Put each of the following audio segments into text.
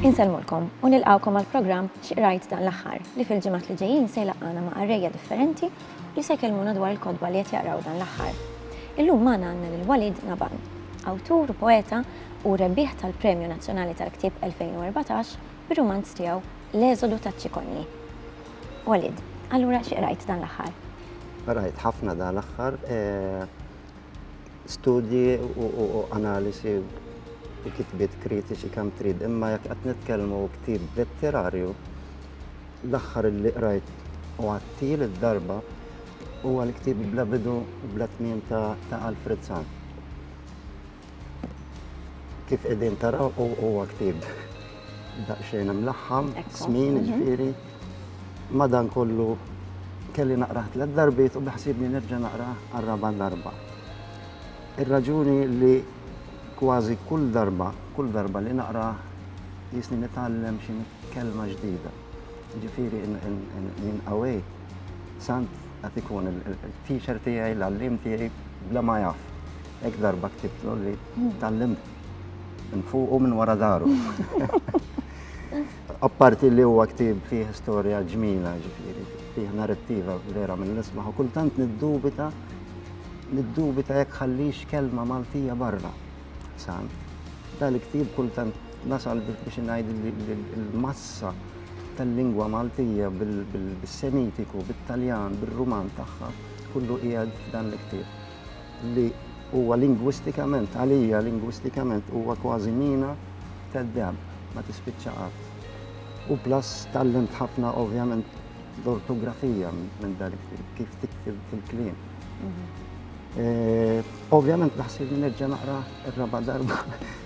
Insellmulkom u nilqawkom għal programm X'qrajt dan l-aħħar li fil-ġimgħat li ġejjin se jlaqqana ma' qarrejja differenti li se jkellmuna dwar il-kotba li qed jaqraw dan l-aħħar. Illum magħna għandna lil Walid Naban, awtur u poeta u rebbieħ tal-Premju Nazzjonali tal-Ktieb 2014 bir-rumanz tiegħu L-Eżodu taċ-Ċikonji. Walid, allura xi qrajt dan l-aħħar? Qrajt ħafna dan l-aħħar studji u analisi u kitbiet kritiċi kemm trid, imma jekk qed nitkellmu ktib letterarju, l-aħħar li qrajt u għattil id-darba huwa l-ktib bla bidu bla tmiem ta' Alfred Sant. Kif qegħdin taraw huwa ktieb daqsxejn imlaħħam, smin, mhm. ġifieri. Madan kollu kelli naqrah tliet darbiet u beħsibni nerġa' naqra għar-raba' darba. Ir-raġuni li kważi kull darba, kull darba li naqra jisni nitgħallem xi kelma ġdida. Ġifieri minn qawwej sant qed ikun il-teacher tiegħi, l-għallim tiegħi bla ma jaf. Hekk darba ktibtlu li tallim nfuqu minn wara daru. Apparti li huwa ktib fih storja ġmila, ġifieri, fih narrativa vera minn nismaħ u kultant niddubita niddubita jekk ħallix kelma Maltija barra. San, dal-ktib kultant nasal biex ngħid il-massa tal-lingwa Maltija bil-Semitiku, bil-Taljan, bil-Ruman tagħha, kullu qiegħed dan l-ktib. li huwa lingwistikament, għalija lingwistikament huwa kważi mina tad-deheb, ma tispiċċa qatt. U plus tgħallimt ħafna ovvjament l-ortografija minn dan il-ktieb, kif tiktib il-kliem. Mhm. Eh, ovvjament naħseb li nerġa' naqra r-raba' darba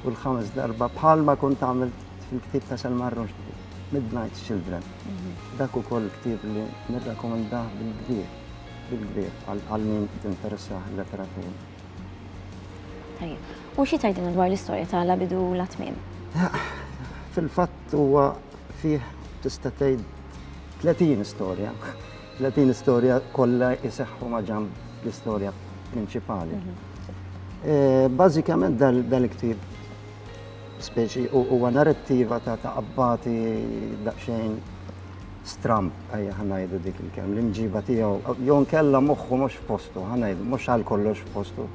u l-ħames darba bħalma kont għamilt fil-ktieb ta' Selma Rushdie, Midnight Children. Mhm. Dak ukoll ktieb li nirrakkomandah bil-kbir. il-kbir għal min tinteressah il-letteratura. Tajjeb. U xi tgħidilna dwar l-istorja ta' La bidu la tmiem? Fil-fatt huwa fih tista' tgħid 30 istorja. 30 istorja kollha jseħħu ma' ġamb l-istorja prinċipali. Mhm. Bażikament dal-ktieb speċi huwa narrattiva ta' qabbati daqsxejn stramb, ejja ħa ngħidu dik il-kelma, l-imġiba tiegħu, jew nkella moħħu mhux f'postu, ħa ngħidu, mhux għal kollox f'postu.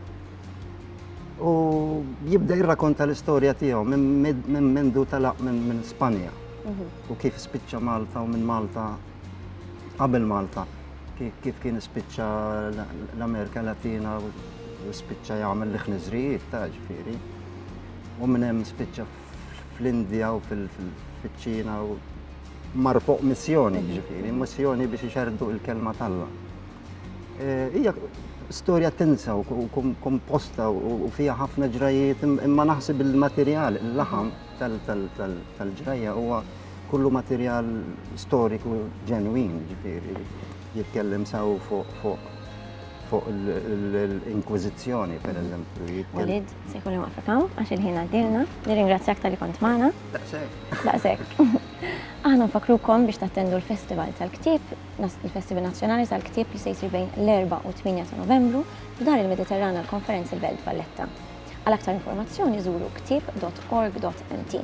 U jibda jirrakonta l-istorja tiegħu minn mendu talaq minn Spanja mhm. u kif spiċċa Malta u minn Malta qabel Malta kif kien spiċċa l-Amerika Latina u spiċċa jagħmel l-ħniżrijiet ta' ġifieri. U minn hemm spiċċa fl-Indja u fil-ċina u mar fuq missjoni ġifiri, missjoni biex iċerdu il-kelma talla. Eh, hija storja tensa u komposta u fija ħafna ġrajiet imma naħseb il-materjal, il-laħam tal-ġrajja huwa kullu materjal storiku ġenwin ġifiri jitkellem saw fuq fuq l-Inkwizizjoni, per eżempju. Se jkun li waqfek hawn għax il-ħin għaddielna. Nirringrazzjak talli kont magħna. Daqshekk. Daqshekk. Aħna nfakkrukom biex tattendu l-Festival tal-Ktieb, il-Festival Nazzjonali tal-Ktieb li se jsir bejn l-Erbgħa u t-Tmienja ta' Novembru f'Dar il-Mediterran għall-Konferenzi Belt Valletta. Għal aktar informazzjoni żuru ktieb.org.mt.